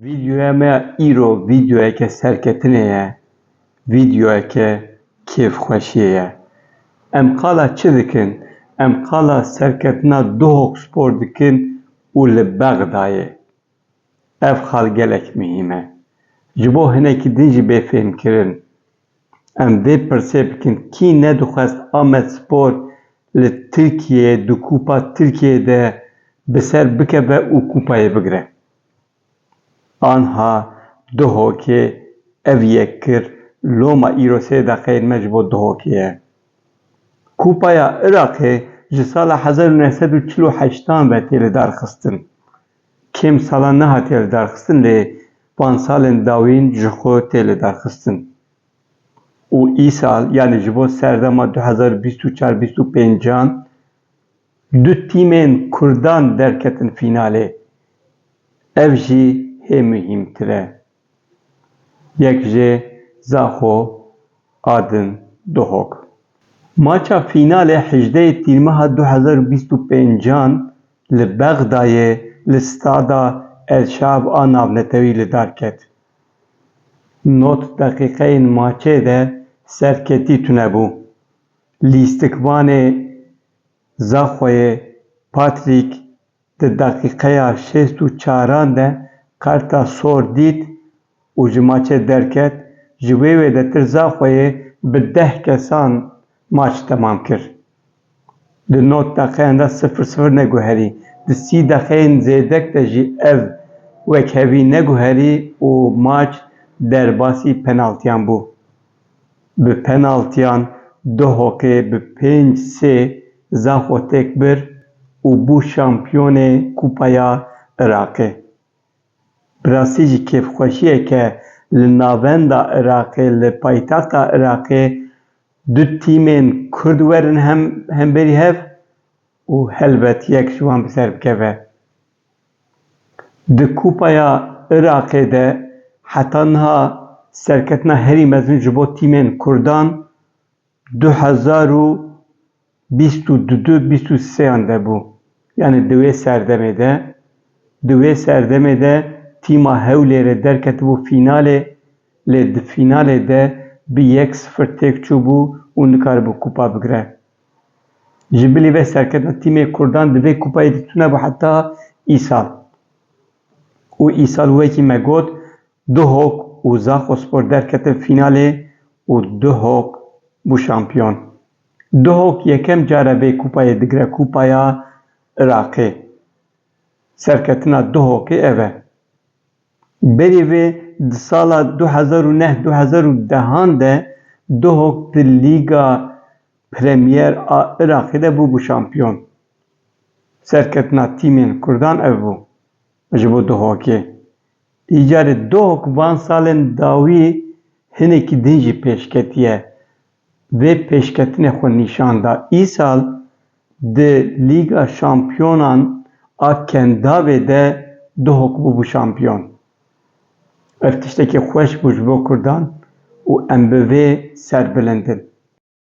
Videoya me ya îro videoyeke serketinê ye, videoyeke kêfxweşiyê ye. Em qala çi dikin? Em qala serketina Duhok Spor dikin û li Bexdayê. Ev xal gelek muhîm e. Ji bo hinekî din jî bê fêhmkirin. Em vê pirsê bikin, kî nedixwest Amedspor li Tirkiyeyê di Kupa Tirkiyeyê de bi ser bikeve û kupayê bigire? Anha Duhokê ev yek kir, loma îro sê deqeyên me ji bo Duhokê ye. Kupaya Iraqê ji sala hezar û neh sed û çil û heştan ve tê lidarxistin. Kêm salan nehatiye lidarxistin lê van salên dawîn ji xwe tê lidarxistin û îsal yanî ji bo serdema du hezar û bîst û çar bîst û pêncan du tîmên kurdan derketin fînalê ev jî hê muhîmtir e. Yek jê Zaxo a din Duhok. Maça fînalê hejdeyê Tîrmeha du hezar û bîst û pênc an li Bexdayê li Stada El Şaab a navnetewî li dar ket. Nod deqîqeyên maçê de serketî tune bû. Lîstikvanê Zaxoyê Patrick Di deqîqeya şêst û çaran de Karta Sor dît û ji maçê derket, ji wê wê de tirza xwe yê bi deh kesan maç temam kir. Di nod deqeyan de sifir sifir neguherî, di sî deqeyên zêdek de jî ev wekhevî neguherî û maç derbasî penaltiyan bû. Bi penaltiyan Duhokê bi pênc sê za xwe têk bir û bû şampiyonê Kupaya Iraqê. Bi rastî jî kêfxweşiyeke li navenda Iraqê li paytexta Iraqê du tîmên Kurd werin hemberî hev û helbet yek ji wan bi ser bikeve. Di Kupaya Iraqê de heta niha serketina herî mezin ji bo tîmên Kurdan du hezar û bîst û du du bîst û sêyan de bû. Yanî di wê serdemê de di wê serdemê de tîma Hewlêrê derketibû fînalê lê di fînalê de bi yek sifir têk çûbû û nikaribû kupa bigire. Ji bilî vê serketina tîmê Kurdan di vê kupayê de tune bû heta îsal û îsal wekî me got Duhok û Zaxospor derketin fînalê û Duhok bû şampiyon. Duhok yekem car e vê kupayê digire Kupaya Iraqê. Serketina Duhokê ev e. Berî vê di sala du hezar û neh du hezar û dehan de Duhok di Lîga Premier a Iraqê de bûbû şampiyon. Serketina tîmên kurdan ev bû ji bo Duhokê. Îcarê Duhok van salên dawî hinekî din jî pêş ketiye. Vê pêşketinê xwe nîşan da. Îsal di Lîga Şampiyonan a Kendavê de Duhok bûbû şampiyon. Ev tiştekî xweş bû ji bo kurdan û em bi vê serbilind in.